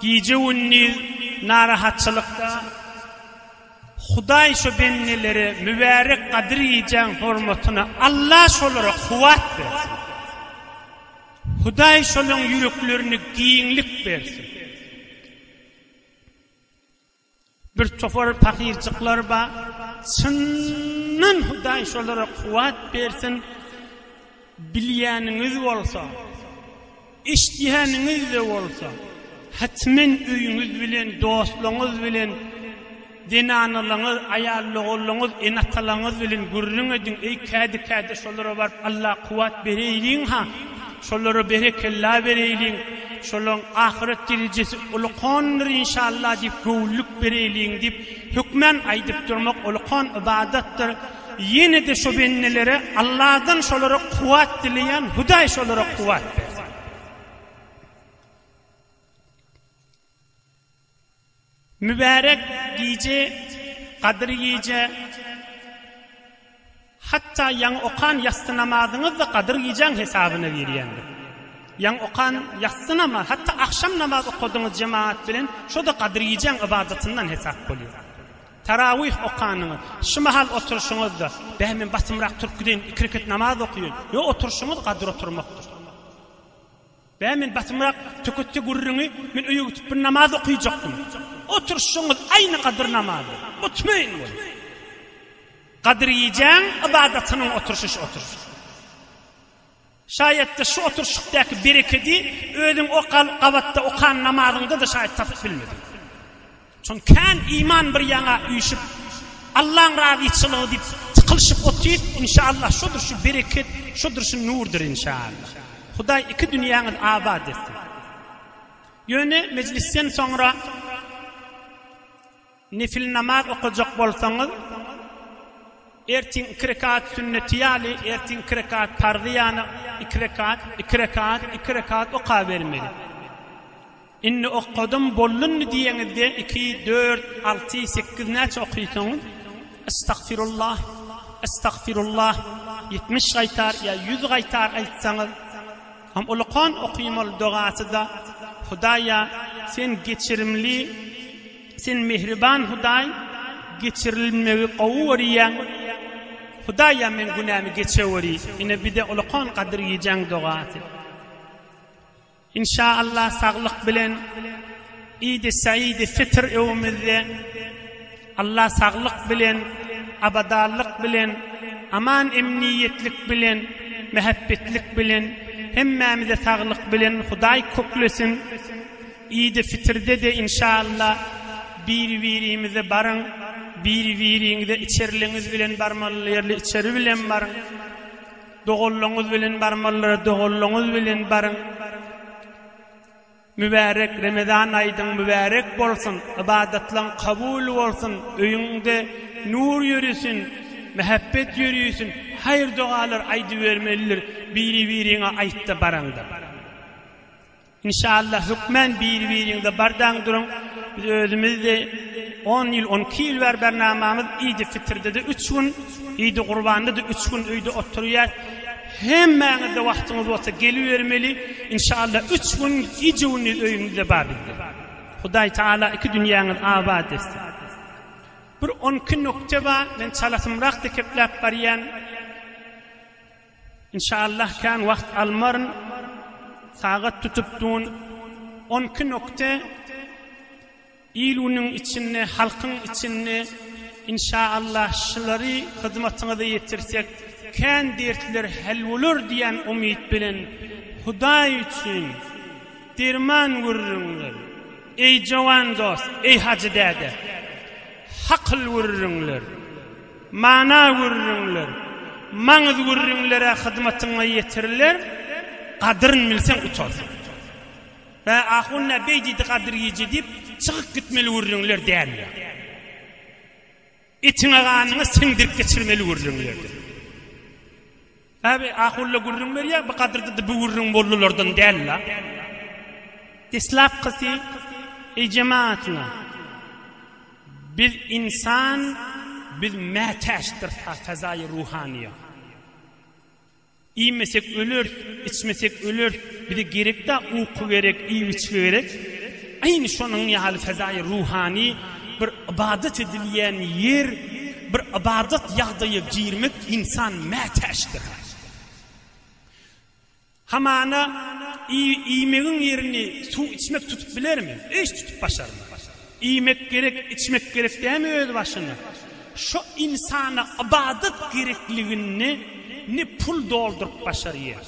Gije-gündiz narahatçylykda Hudaý şu bendeleri mübärek Gadyr gijäň hormatyna Alla şolara kuwwat bersin. Hudaý şolaň ýüreklerine giňlik bersin. Bir topar pakyrjyklar bar, çyndan Hudaý şolara kuwwat bersin, bilýäniňiz bolsa, eşidýäniňiz-de bolsa, hetmen öýüňiz bilen, dostlaryňyz bilen, zenanalaryňyz, aýal-ogullaryňyz, ene-atalaryňyz bilen gürrüň ediň, eý, kädi-kädi şolara baryp, Alla kuwwat bereýliň-ha! Şolara berekella bereýliň, şolaň ahyret derejesi ulukandyr inşallah diýip göwünlik bereýliň diýip hökmän aýdyp durmak ulukan ybadatdyr. Ýene-de şo bendelere Alladan şolara kuwwat dileýän, Hudaý şolara kuwwat bersin. Mübärek gije, gadyr gije, hatda ýaňy okan ýassy namazyňyz-da gadyr gijäň hesabyna girýändir. Ýaňy okan ýassy namaz, hatda agşam namaz okadyňyz jemagat bilen, şo-da gadyr gijäň ybadatyndan hesap bolýar. Tarawih okanyňyz, şu mahal oturyşyňyz-da, Bä, men basymrak turup gideýin, iki reket namaz okaýyn, ýok, oturyşyňyz gadyr oturmakdyr. Bä men basymrak töketde gürrüňi men öýe gitip bir namaz okyjakdym. Oturyşyňyz aýny gadyr namazy. Mutmaýyn bol. Gadyr gijäň ybadatynyň oturyşy şu oturyş. Şaýatda şu oturyşykdaky berekedi özüň o gabatda okan namazyňda-da şaýat tapyp bilmediň. Soň kän iman bir ýaňa üýşüp, Allaň razyçylygy diýip tykylyşyp otyr, inşaallah şodur şu bereket, şodur şu nurdyr inşaallah. Hudaý iki dünýäňiz abat etsin. Ýöne mejlisden soňra nefil namaz okajak bolsaňyz, ertiň iki rekat sünneti ýaly, ertiň iki rekat parzy ýany iki rekat, iki rekat, iki rekat okabermeli. Indi okadym, boldunmy diýeňizde iki, dört, alty, sekiz näçe okyýsoňyz? Estagfirullah, estagfirullah ýetmiş gaýtar ýa ýüz gaýtar aýtsaňyz Ham ulukan okyň ol dogasyda Hudaýa sen geçirimli sen mehriban Hudaý geçirilmegi gowy görýäň Hudaýa meň günämi geçeweri ine bide ulukan gadyr gijäň dogasy. Inşa Allah saglyk bilen idi saidi fitr öwümizde Allah saglyk bilen abadanlyk bilen aman emniyetlik bilen mehebbetlik bilen hemmämize saglyk bilen Hudaý köklesin idi fitrde de inşa Allah biri birimize baryň biri biriňize içerliňiz bilen barmaly ýerli içeri bilen baryň Doganlygyňyz bilen barmalylara doganlygyňyz bilen baryň. Mübärek Remezan aýdyň mübärek bolsun, ybadatlaň kabul bolsun, öýüňde nur ýöresin, mähebbet ýöreýsin, haýyr-dogalar aýdybermelidir, biri-biriňe aýt-da baraňda. Inşallah hökmän bir biriňize bardaň duruň biz özümizde on ýyl on iki ýyl bäri bernamamyz idi fitirdede üç gün idi gurbandada üç gün öýde oturýas hemmäňizde wagtyňyz bolsa gelibermeli inşallah üç gün gije gündiz öýümizde bar bizde hudaý taala iki dünýäňiz abat etsin bir on iki nokte bar men çalasymrak dekepläp barýan Inşallah kän wagt almaryn sagat tutup dun on iki nokte iluniň içinde halkyň içinde inşallah şulary hyzmatyňyza ýetirsek kän dertler hal bolar diýen umyt bilen hudaý üçin derman gürrüňler eý jowan dost eý hajy däde hakyl gürrüňler. Mana gürrüňler, maňyz gürrüňler-ä hyzmatyňa ýetiriler, gadyryn bilseň utarsyň. Bä, ahun-ä beý diýdi gadyr gije diýip, çykyp gitmeli gürrüňler dälmi-ýa? Etiňe-ganyňa siňdirip geçirmeli gürrüňlerdir. Abi Ahulla gürrüň berýär bu gadyrdyda bu gürrüň bollylardan däl la. Deslapkysy Eý jemaatyňa biz insan biz mätäçdir fazaýy ruhanyýa. Iýmesek öleris, içmesek öleris, bize gerekdä uky gerek, iýip içgi gerek. Aýny şonuň ýaly fezaýy ruhany bir ybadat edilýän ýer, bir ybadat ýagdaýa girmek ynsan mätäçdir. Hamana iýmegiň ýerini suw içmek tutup bilermi? Hiç tutup başarmaz. Iýmek gerek, içmek gerek dämi öz başyna? Şo ynsana ybadat gerekligini ne pul dolduryp başarýar,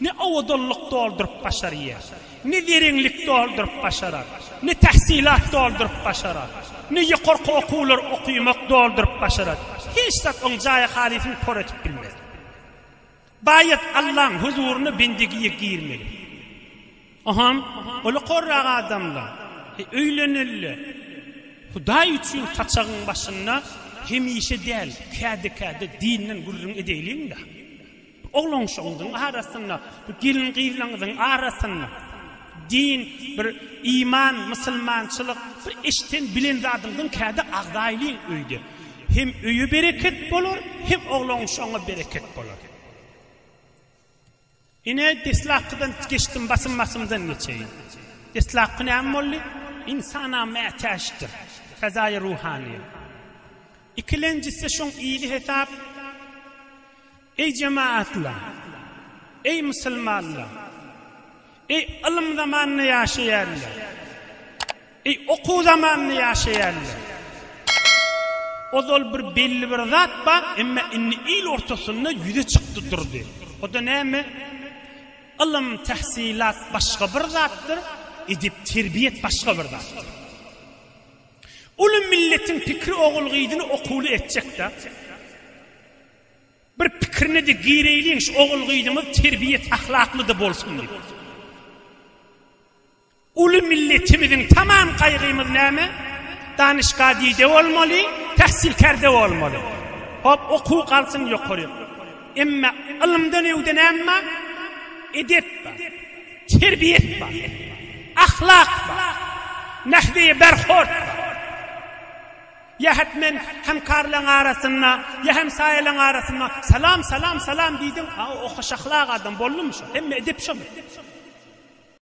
Ne owadanlyk dolduryp başarýar, ne zerenlik dolduryp başarar, ne tähsilat dolduryp başarar, ne ýokarky okuwlar okymak dolduryp başarar. Hiç zat oň jaýy-halysyny por edip bilmez. Baýat Allaň huzuryna bendegiýe girmeli. Oham, ola korrak adamla, öýlenelle. Hudaý üçin saçagyň başynda hemişe däl, käde-käde dinden gürrüň edeýliň-dä. Oglan-şogundyň arasynda, bu gelin-gyzlaňyzyň arasynda din, bir iman, musulmançylyk, bir eşden, bilen zadyňyzyň kädi agzaýlyň öýde. Hem öýe bereket bolar, hem oglan-şoguňa bereket bolar. Ine, deslapkydan geçdim, basym-basymdan geçeýin. Deslapky näme boldy? Ynsana mätäçdir. Fezaýy ruhanyýet. Ikilenjisi şoň ýyly hesap. Eý jemaatlar! Eý musulmanlar! Eý ylym zamanynda ýaşaýanlar! Eý okuw zamanynda ýaşaýanlar! Ozal bir belli bir zat bar, emma indi il ortasynda ýüze çykdy durdy. O-da näme? Ylym, tähsilat başga bir zatdyr, edep, terbiýet başga bir zatdyr. Uly milletiň pikiri ogul-gyzyny okuwly etjek-dä. Bir pikirine-de gireýliň, şu ogul-gyzyňyz terbiýet-ahlakly-da bolsun diýip. Uly milletimiziň tamam gaýgymyz näme? Danyşgady-de bolmaly, tähsilkär-de bolmaly. Hop, okuw galsyn ýokary. Emma ylymdan öwde näme bar? Edep bar. Terbiýet bar. Ahlak bar. Nahweýe berhord bar. Ýa hetmen hemkarlaň arasynda, ýa hemsaýalaň arasynda Salam, salam, salam diýdiň, a o hoşahlak adam boldumy şo, hemme edep şomy?